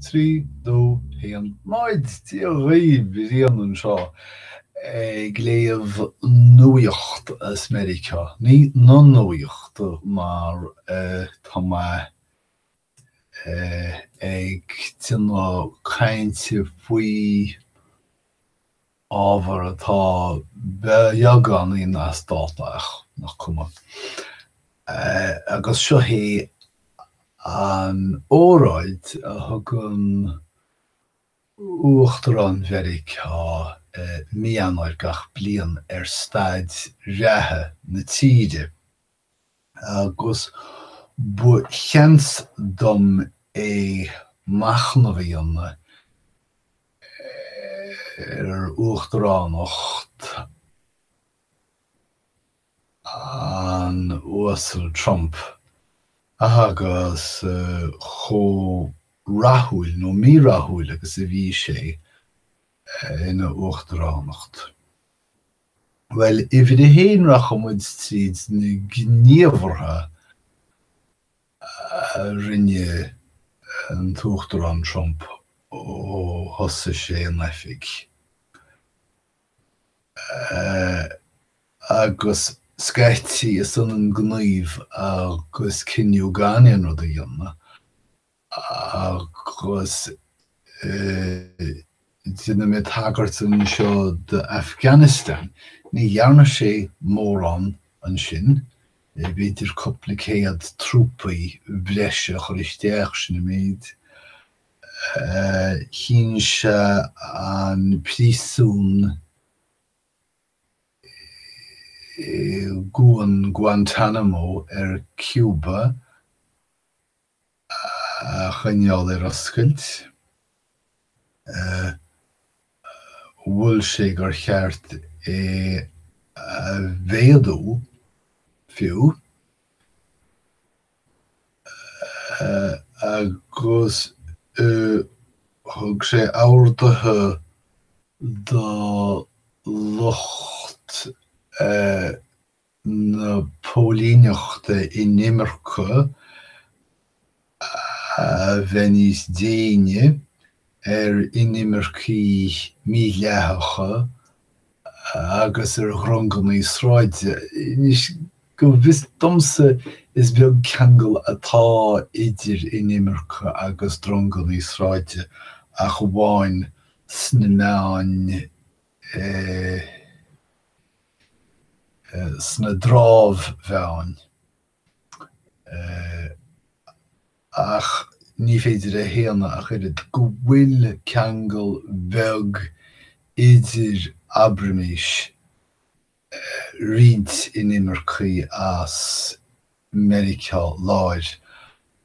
trí dó haon náid Dia dhaoibh! Brian anseo ag léamh nuaíocht as Meiriceá, ní na nuaíocht mar tá mé ag déanamh cainte faoi ábhar atá beagáinín as dáta ach nach cuma é, agus seo hí an óráid a thugann Uachtarán Mheiriceá i Mí Eanáir gach bliain ar staid reatha na tíre. agus ba sheans dom é machnamh a dhéanamh ar uachtaránacht an Uasail Trump agus chomh rathúil, nó mírathúil, agus a bhí sé ina uachtaránacht. Bhuel, uimhir a haon rachaidh muid tríd na gníomhartha a rinne an tUachtarán Trump ó thosaigh sé in oifig agus scaití is ionann gníomh agus cinneadh gan aon rud a dhéanamh. agus déanfaidh mé tagairt anseo d'Afghanistan. Ní dhearna sé mórán ansin, b'fhéidir cúpla céad trúpaí breise a chur isteach, sin an méid. Chinn sé an príosún i gcuan Guantanamo ar Cuba. a choinneáil ar oscailt. Mhol sé gur cheart é a mhéadú fiú agus thug sé orduithe do lucht. na póilíneachta inimirce a bheith níos déine ar inimircigh mídhleathacha agus ar dhronganna sráide. Anois, go bhfios domsa, is beag ceangal atá idir inimirce agus dronganna sráide ach amháin sna meáin sna dramhmheáin. Ach ní féidir a shéanadh ach oiread go bhfuil ceangal beag idir abraimís roinnt inimircigh as Meiriceá Láir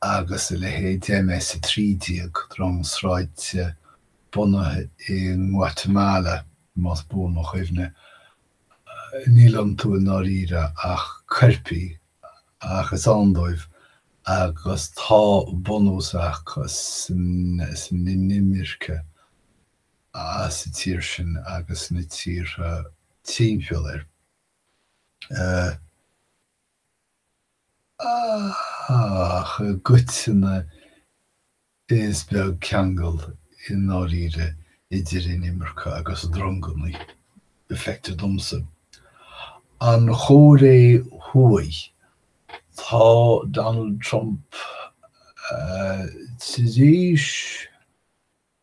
agus a leithéid, de MS 13, drong sráide bunaithe in Guatemala, más buan mo chuimhne, níl iontu i ndáiríre ach coirpigh ach is ann dóibh agus tá bunús acu san inimirce. as an tír sin agus na tíortha timpeall uirthi. Ach i gcoitinne is beag ceangal i ndáiríre idir inimirce agus dronganna, feictear domsa. An Chóiré Thuaidh, tá Donald Trump tar éis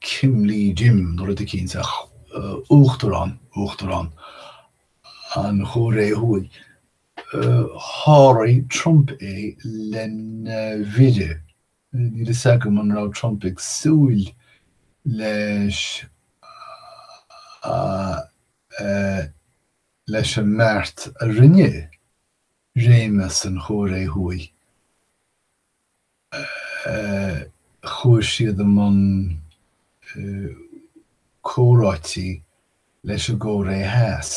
Kim Lee Jim nó rud éicint, uachtarán, uachtarán na Cóiré Thuaidh, sháraigh Trump é lena mhire. Níl a fhios agam an raibh Trump ag súil leis leis an mbeart a rinne réimeas na Cóiré Thuaidh. chuaigh siad i mbun comhráite leis an gCóiré Theas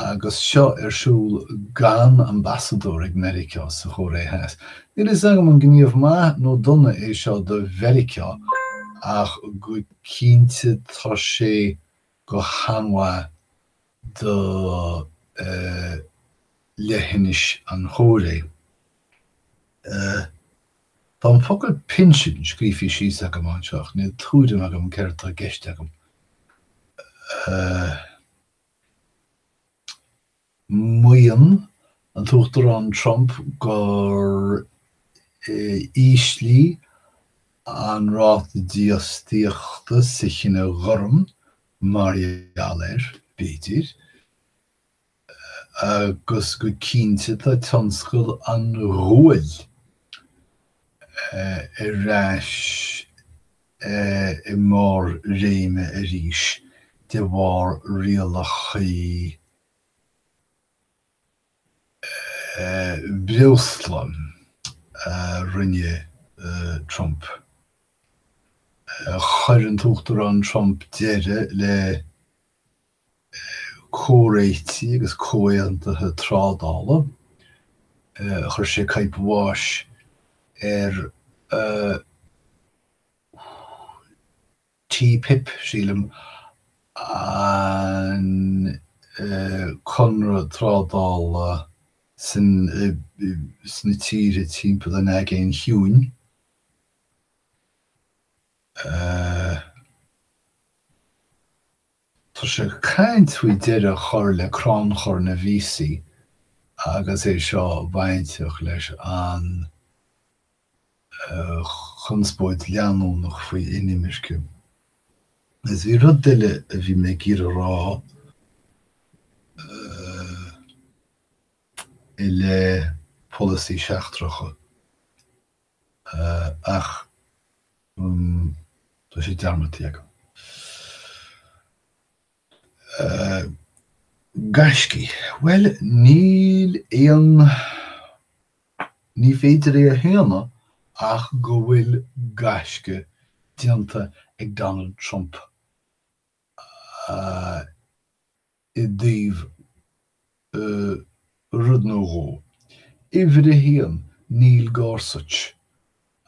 agus seo ar siúl gan ambasadóir ag Meiriceá sa Chóiré Theas. Níl a fhios agam an gníomh maith nó dona é seo do Mheiriceá ach go cinnte tá sé go han-mhaith do leithinis na Cóiré. Tá an focal pinsin scríofa síos agam anseo ach níl tuairim agam céard atá i gceist agam. Maíonn an tUachtarán Trump gur ísligh an ráta dífhostaíochta sa chine gorm mar gheall air, b'fhéidir, agus go cinnte tá tionscal an ghuail ar ais i mbarr réime arís de bharr rialachaí breosla a rinne Trump. Chuir an tUachtarán Trump deireadh le comhréitigh agus comhaontuithe trádála, chuir sé caidhp bháis ar an TPP, sílim, an conradh trádála sin sna tíortha timpeall an Aigéin Chiúin. Tá sé ag caint faoi deireadh a chur le crannchur na víosaí agus é seo bainteach leis an. chonspóid leanúnach faoi inimirce. Is bhí rud eile a bhí mé ag iarraidh a rá i leith polasaí seachtracha ach tá sé dearmadta agam. gaiscí? Bhuel, níl aon ní féidir é a shéanadh ach go bhfuil gaisce déanta ag Donald Trump i dtaobh ii, rud nó dhó. Uimhir a haon, Neil Gorsuch,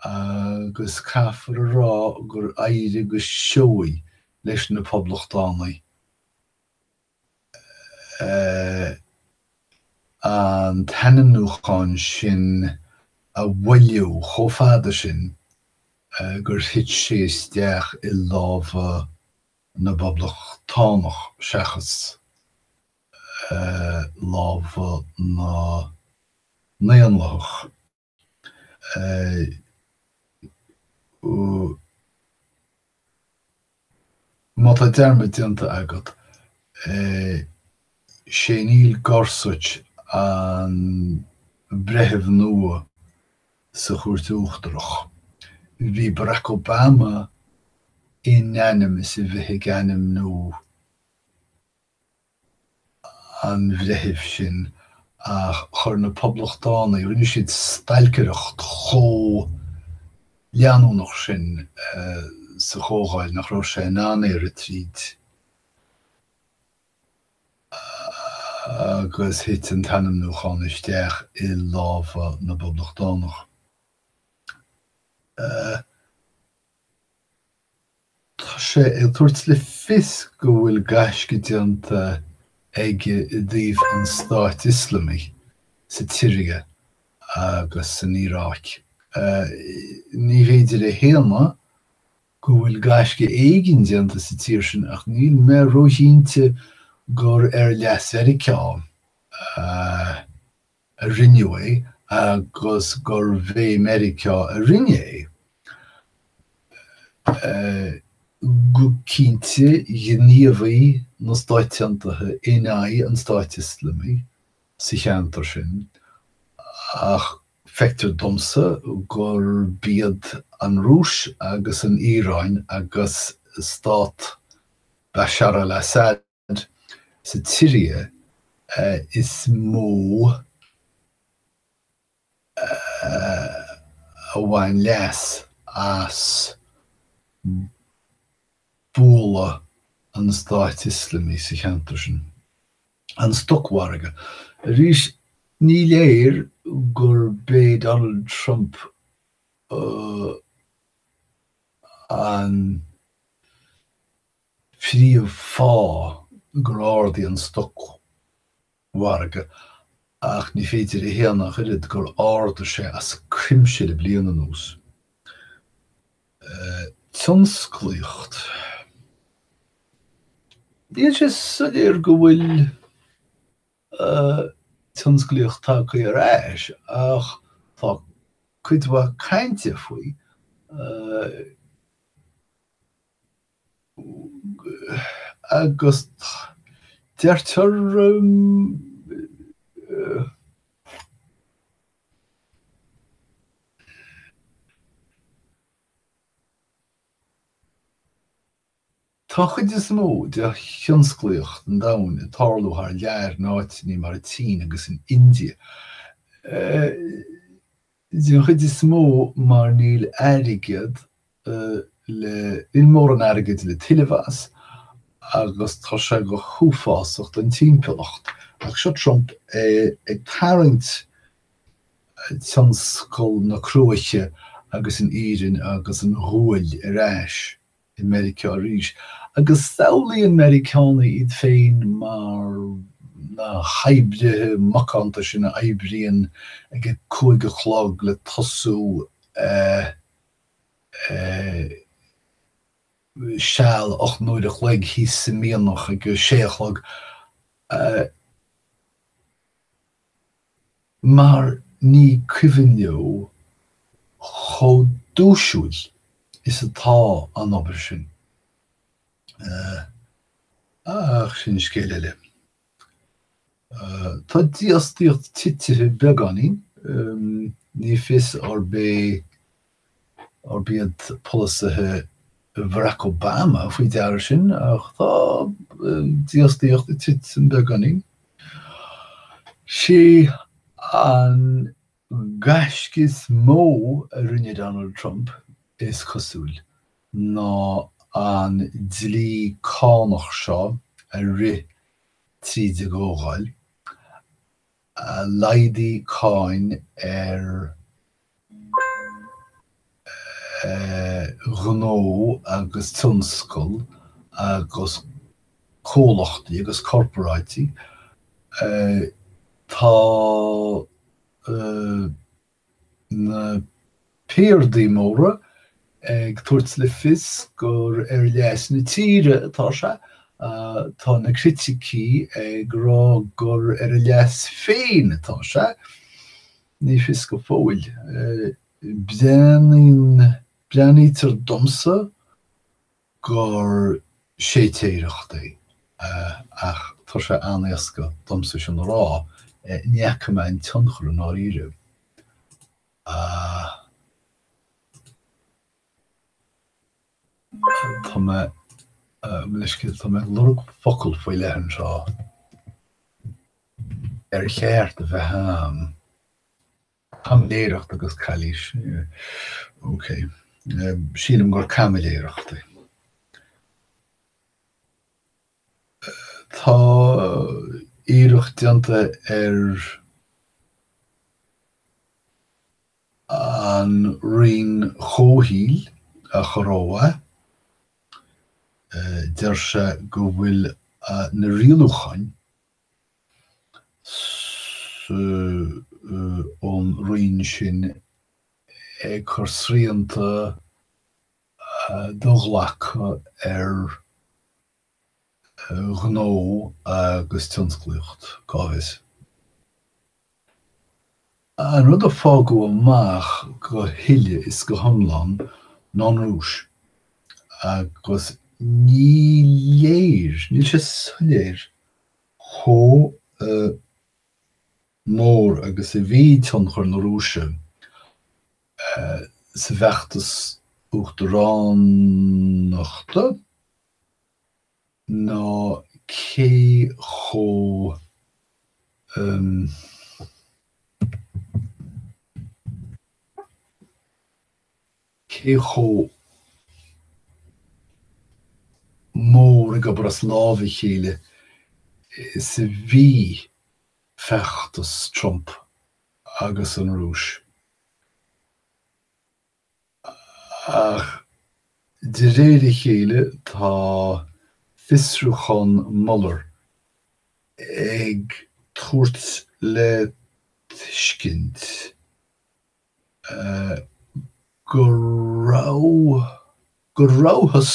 agus caithfear a rá gur éirigh go seoigh leis na Poblachtánaigh an t-ainmniúchán sin a mhoilliú chomh fada sin gur thit sé isteach i lámha na bPoblachtánach seachas lámha na nDaonlathach. Má tá dearmad déanta agat, sé Neil Gorsuch an breitheamh nua sa Chúirt Uachtarach. Bhí Barack Obama in ainm is a bheith ag ainmniú an bhreithimh sin ach chuir na Poblachtánaigh, rinne siad stailcireacht chomh leanúnach sin sa Chomhdháil nach raibh sé in ann éirí tríd agus thit an t-ainmniúchán isteach i lámha na bPoblachtánach. Tá sé ag tabhairt le fios go bhfuil gaisce déanta aige i dtaobh an Stáit Ioslamaigh sa tSiria agus san Iaráic. Ní féidir a shéanadh go bhfuil gaisce éigin déanta sa tír sin ach níl mé róchinnte gur ar leas Mheiriceá a. a rinneadh é agus gurbh é Meiriceá a rinne é. Go cinnte ghníomhaigh na Stáit Aontaithe in aghaidh an Stáit Ioslamaigh sa cheantar sin ach feictear domsa gurb iad an Rúis agus an Iaráin agus stát Bashar al-Assad Sa tSiria is mó a bhain leas as bualadh an Stáit Ioslamaigh sa cheantar sin. An stocmhargadh. Arís ní léir gurb é Donald Trump an príomhfháth gur ardaigh an stocmhargadh ach ní féidir a shéanadh ach oiread gur ardaigh sé as cuimse le bliain anuas. Tionsclaíocht. Níl sé soiléir go bhfuil tionsclaíocht tagtha ar ais ach tá cuid mhaith cainte faoi. agus deirtear Tá an chuid is mó de thionsclaíocht an domhain ag tarlú thar lear in áiteanna mar an tSín agus an India. Den chuid is mó mar níl airgead le, níl mórán airgid le tuilleamh as agus tá sé go h-uafásach don timpeallacht. Ach seo Trump ag tarraingt tionscal na cruaiche agus an iarainn agus an ghuail ar ais. i Meiriceá arís, agus samhlaíonn Meiriceánaigh iad féin mar na hoibrithe macánta sin a éiríonn ag a cúig a chlog le tosú eh. eh. seal ocht n-uaire a chloig thíos sa mianach ag a sé a chlog. eh. mar ní cuimhin leo chomh duaisiúil is atá an obair sin. Ach sin scéal eile. Tá dífhostaíocht tite beagáinín, ní fios arb ia arb iad polasaithe Bharack Obama faoi deara sin, ach tá dífhostaíocht ag titim beagáinín. Sé an gaisce is mó a rinne Donald Trump, is cosúil, ná an dlí cánach seo a rith tríd a gComhdháil. a laghdaigh cáin ar ghnó agus tionscal agus comhlachtaí agus corparáidí, tá. Na piardaí móra ag tabhairt le fios gur ar leas na tíre atá sé. Tá na criticí ag rá gur ar a leas féin atá sé. Ní fios go fóill. Breathnaíonn, breathnaítear domsa. gur séitéireacht é, ach tá sé an-éasca domsa sin a rá, ní fhaca mé an tionchar i ndáiríre. Tá, mo leithscéal, tá mé ag lorg focal faoi leith anseo ar cheart a bheith agam. Caimiléireacht agus calaois. Ok. Sílim gur caimiléireacht é. Tá iarracht déanta ar an Roinn Comhshaoil a chur ó mhaith. Deir sé go bhfuil na rialúcháin ón roinn sin ag cur srianta do-ghlactha ar ghnó agus tionsclaíocht, cá bhfios. An rud a fágadh amach go huile is go hiomlán ná an Rúis agus ní léir, níl sé soiléir chomh mór agus a bhí tionchar na Rúise sa bhfeachtas uachtaránachta. ná cé chomh cé chomh mór ag obair as lámha a chéile is a bhí feachtas Trump agus an Rúis. Ach de réir a chéile tá fiosrúchán Mueller ag tabhairt le tuiscint go raibh, go rabhthas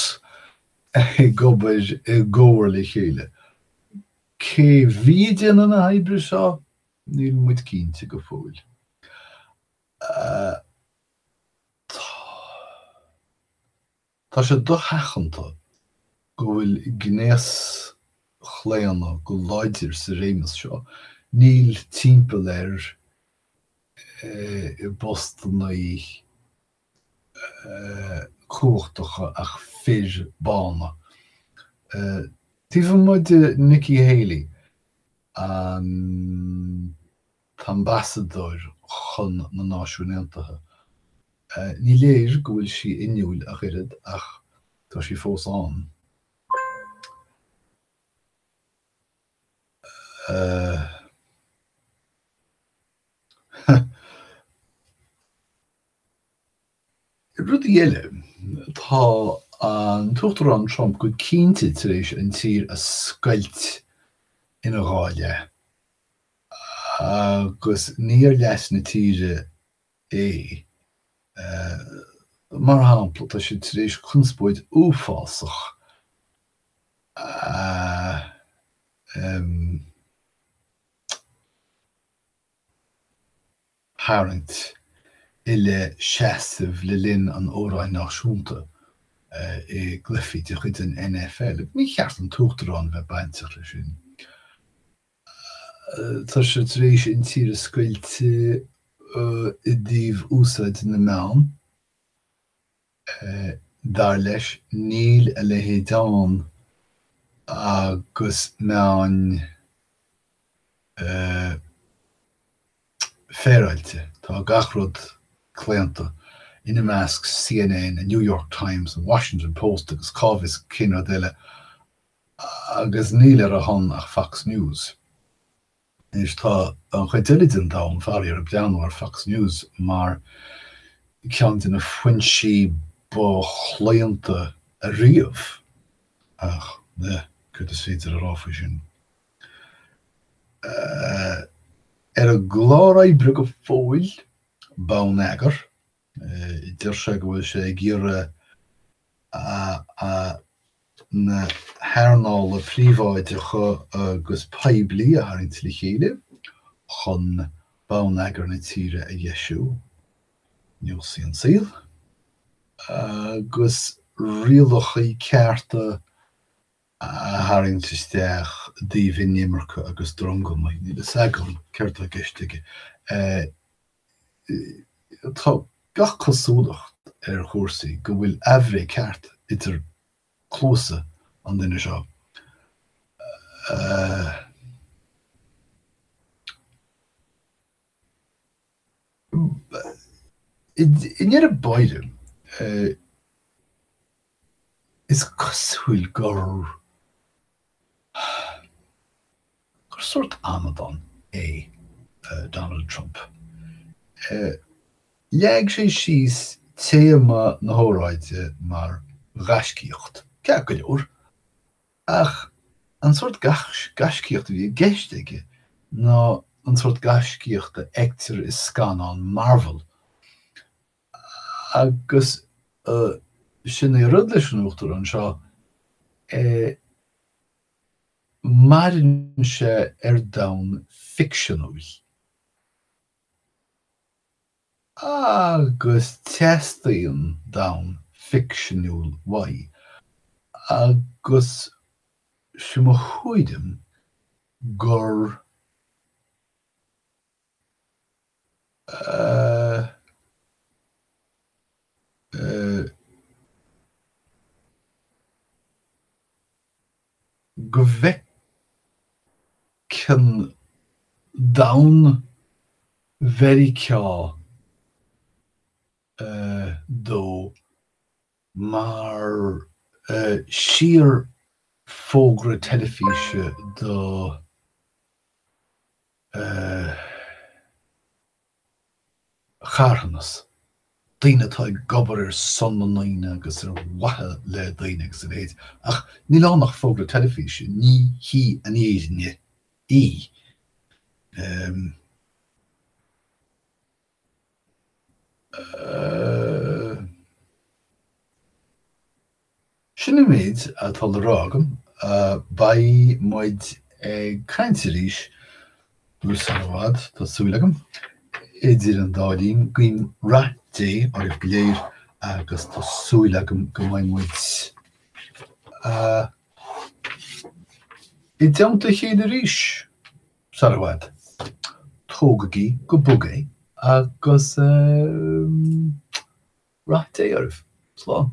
ag obair i gcomhar le chéile. Cé bhí ag déanamh na hoibre seo? Níl muid cinnte go fóill. Tá sé dosheachanta go bhfuil gnéaschlaonadh go láidir sa réimeas seo, níl timpeall air i bpostanna cumhachtacha ach fir bána. Taobh amuigh de Nikki Haley, an. t-ambasadóir chun na Náisiúin Aontaithe. Ní léir go bhfuil sí inniúil ach oiread ach tá sí fós ann. Rudaí eile, tá an tUachtarán Trump go cinnte tar éis an tír a scoilt ina dhá leath agus ní ar leas na tíre é. Mar shampla, tá siad tar éis conspóid uafásach a. tharraingt i leith seasaimh le linn an amhráin náisiúnta i gcluichí de chuid an NFL. agus ní cheart an tUachtarán a bheith bainteach leis sin. Tá sé tar éis an tír a scoilt i dtaobh úsáid na meán. Dar leis, níl a leithéid ann agus meáin féaráilte. Tá gach rud claonta, ina measc CNN, an New York Times, an Washington Post agus cá bhfios cén rud eile, agus níl ar a shon ach Fox News. Anois tá an chuid eile den domhan, faraor, ag breathnú ar Fox News mar cheann de na foinsí ba chlaonta riamh, ach céard is féidir a rá faoi sin? Ar an gclár oibre go fóill, Bonneagar. Deir sé go bhfuil sé ag iarraidh na hearnála príobháideacha agus poiblí a tharraingt le chéile chun bonneagar na tíre a dheisiú. Neosfaidh an saol agus rialachaí cearta a tharraingt isteach i dtaobh inimirce agus drong. Níl a fhios agam céard atá i gceist aige. Tá gach cosúlacht ar chúrsaí go bhfuil aimhréidh cheart idir cluasa an duine seo. I ndeireadh báire, is cosúil gur. Gur sórt amadán é Donald Trump? Leag sé síos téama na hóráide mar ghaiscíocht, ceart go leor, ach an sórt gaiscíocht a bhí i gceist aige ná an sórt gaiscíocht a fheictear i scannáin Marvel. Agus sin é an rud leis an Uachtarán seo, maireann sé ar domhan ficseanúil. Agus teastaíonn domhan ficseanúil uaidh. Agus sin mo chreideamh gur. go bhfeiceann Donald Meiriceá ó mar shíorfhógra teilifíse do. charthanas, daoine atá ag obair ar son na ndaoine agus ar mhaithe le daoine agus a leithéid, ach níl ann ach fógra teilifíse, ní hí an fhírinne í. Sin an méid atá le rá agam. Beidh muid ag caint arís uair sar i bhfad, tá súil agam. Idir an dá linn, guím rath Dé oraibh go léir agus tá súil agam go mbeidh muid i dteannta a chéile arís. Sar i bhfad. Tógaigí go bog é agus Rath Dé oraibh. Slán.